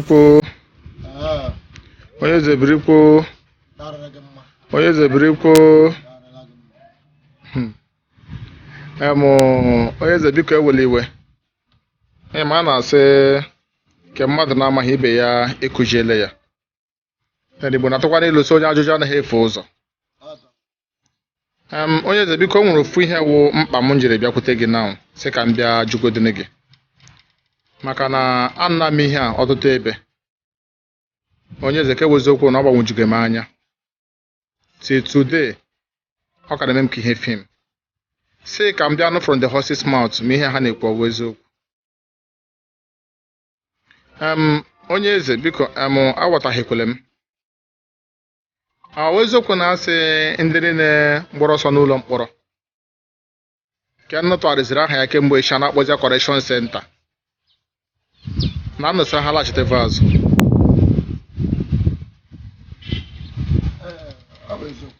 birikwo onye eze birikwo onye eze birikwo Hmm. Em, onye eze biko ewela iwe Em, a na-asị nke mmadụ na-amaghị ibe ya akụziere ya ndị Igbo na-atụkwa n'ilu sị onye ajụjụ anaghị efu ụzọ Em, onye eze biko o nwere ofu ihe wụ mkpa m jiri bịakwute gị na sị ka m bịa jụgodịnị gị maka na anụla m ihe a ọtụtụ ebe onye eze ka ọ wụ eziokwu na ọ gbagwojugo m anya till today ọ ka na-eme m ka ihe fim sị ka m bịa nụ from the horse's mouth ma ihe ha na-ekwu ọ wụ eziokwu em onye eze biko em aghọtaghịkwele m ọ wụ eziokwu na a sị ndị niile gbara ọsọ n'ụlọ mkpọrọ nke unu tụgharịziri aha ya kemgbe echi a na-akpọzi ya correction centre na unu sịrị ha laghachiteva azụ Ọ bụ eziokwu.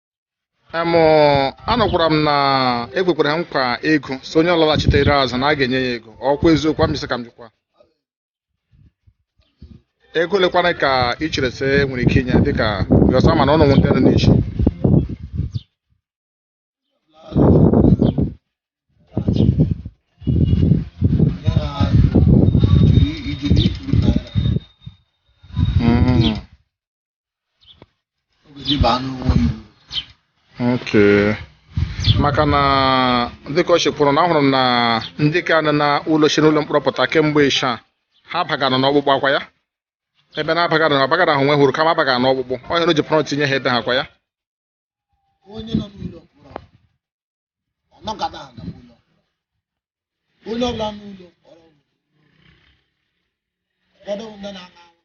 em anụkwara m na e kwekwara ha nkwa ego sị onye ọbụla laghachitere azụ na a ga-enye ya ego ọkwa eziokwu a m sị ka m jụkwa ego ole kwanụ ka ị chere sị e nwere ike inye dịka bịọsọ ama na unu wụ ndị nọ n'isi Okay. maka na dịka o si kwụrụ na ahụrụ m na ndị ka nọ na ụlọ si n'ụlọ mkpọrọ pụta kemgbe ịsha ha bagara n'ọkpụkpụ akwa ya ebe na abagara na abagara ahụ nwe hụrụ kama abagara n'ọkpụkpụ ọ hụrụ ji pụrụ tinye ha ebe ha kwa ya ọ nọgada aga n'ụlọ onye ọbụla nọ n'ụlọ mkpọrọ ụfọdụ wụ ndị na-aṅụ aṅụ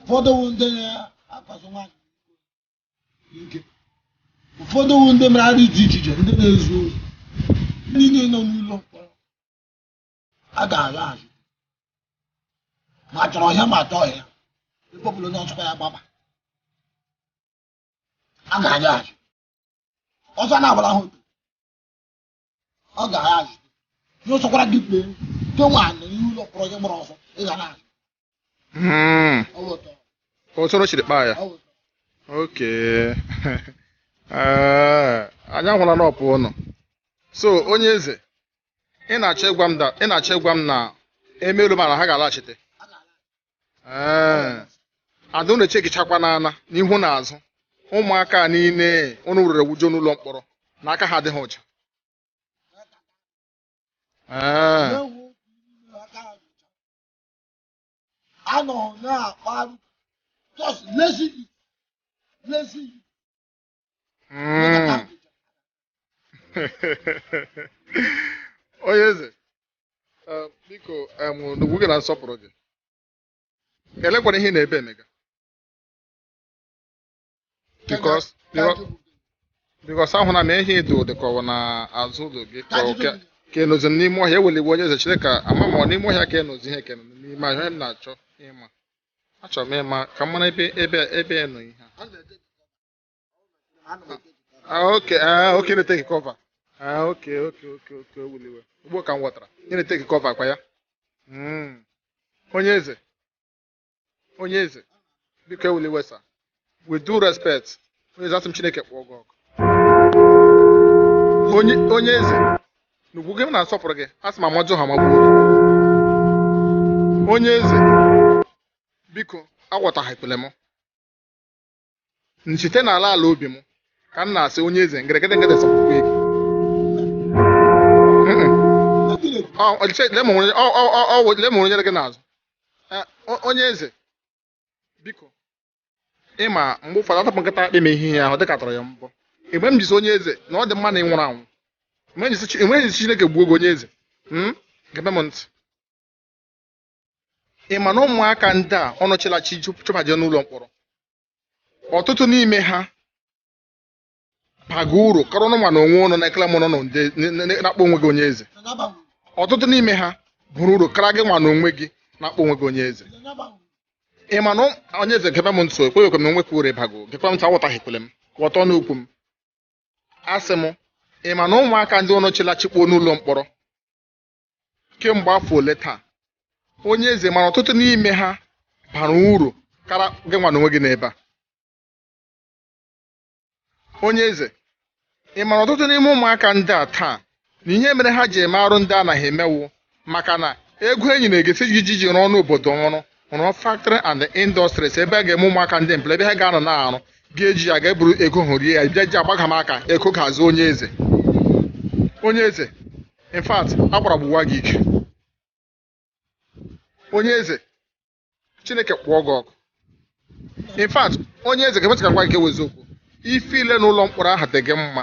ụfọdụ wụ ndị na-akwaso nwaanyị ike ụfọdụ wụ ndị mere arụ dị iche iche ndị na-ezu ohi ndị niile nọ n'ụlọ mkpọrọ a ga-agha azụ ma chọrọ ọhịa ma chọọ ọhịa ebe ọbụla onye ọchụkwa ya gbaba a ga-agha azụ ọzọ na-agbara ha otu ọ ga-agha azụ ihe ọsọkwara gị kpee nke nwaanyị ihe ụlọ mkpọrọ gị gbara ọsọ ị ga-ala azụ Hmm. Otu unu siri kpaa ya. Okay. Eh, anyị ahụla na ọ bụ unu. So onye eze, ị na-achọ ịgwa m na emelu mana ha ga-alaghachite. Eh. Ada unu echegichakwa n'ana n'ihu na azụ. Ụmụaka niile unu weere wujuo n'ụlọ mkpọrọ na aka ha adịghị ọcha. Eh. anọ na-akparị just lazy youth lazy youth onye eze um, biko um, n'ugwu gị na nsọpụrụ gị elekwana ihe na-ebe emega Because- Ka because- ajụpụta. because ahụna m ihe dị dịka ọ bụ na azụ ụlọ gị Ka ka ọ ajụjụ ka- gị. ka ị nọzi n'ime ọhịa ewela iwe onye eze chere ka a ma ma ọ n'ime ọhịa ka ị nọzi ihe kene n'ime ọhịa onye m na-achọ ịma achọrọ m ịma ka m mara ebe ebe ebe ị nọ ihe Ọ na-etake cover. Ọ na-etake cover. Ah, okay ah, okay ị na-etake cover Ah, okay okay okay okay ewela iwe ugbu a ka m ghọtara ị na-etake cover kwa ya Mm. onye eze onye eze biko ewela iwe sir with due respect onye eze asị m chineke kpọọ gị ọkụ onye onye eze n'ugwu gị na nsọpụrụ gị asị m Amadịọha magbuo gị onye eze biko aghọtahiekwele m m site n'ala ala obi m ka m na-asị onye eze ngeregede ngede sọpụkwa ego lemụrụ nyere gị n'azụ onye eze biko ịma mgbe ụfọdụ atapụ nkịta akpị ma ihe ahụ dịka atụrụ ya mbọ iwe m ji sị onye eze na ọ dị mma na ị nwụrụ anwụ iwe m ji sị Chineke gbuo gị onye eze gebe m ntị ị ma na ụmụaka ndị a unu chịrị achị chụbaje n'ụlọ mkpọrọ ọtụtụ n'ime ha baga uru kara unu nwa na onwe unu nke ị nọ na-akpọ onwe gị onye eze ọtụtụ n'ime ha bara uru kara gị nwa na onwe gị na-akpọ onwe gị onye eze ị ma na onye eze gebe m ntị ekweghị ekwe m na o nwekwa uru ị baga gekwa m ntị aghọtahiekwele m ghọta okwu m asị m ị ma na ụmụaka ndị a unu chịrị achị kpọọ n'ụlọ mkpọrọ kemgbe afọ ole taa onye eze ma na ọtụtụ n'ime ha bara uru kara gị nwa n'onwe gị n'ebe a onye eze ị mara ọtụtụ n'ime ụmụaka ndị a taa na ihe mere ha ji eme arụ ndị a ha na-eme wụ maka na ego e nyere e kwesị iji ji ji rụọ n'obodo ọrụ rụọ factory and industries ebe a ga-eme ụmụaka ndị mpụrụ ebe ha ga-anọ na-arụ ga-eji ya ga-eburu ego hụ rie ya bịa ji agbaga m aka ego aka azụ onye eze onye eze in fact agbara gbuwa gị ike onye eze chineke kpọọ gị ọkụ in fact onye eze ga-emecha ka gwa gị ka ewezi okwu ife ile n'ụlọ mkpọrọ ahụ dị gị mma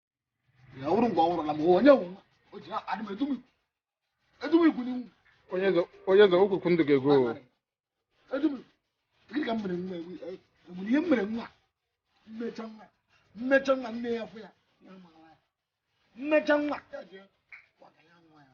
ya wụrụ mgbe ọ nwụrụ na ma onye wụ nwa o ji adị m edum ikwu edum ikwu n'iwu onye eze onye eze okwukwu ndụ ga-ego o. edum ikwu gịnị ka m mere nwa ewu e- enwere ihe m mere nwa mmecha nwa mmecha nwa nne ya fụ ya ya mara ya mmecha nwa ya jee gwaga ya nwa ya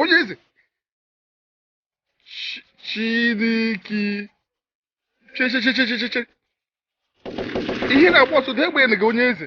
onye eze chineke che ihe na-agba ọsọ dee gbanye gị onye eze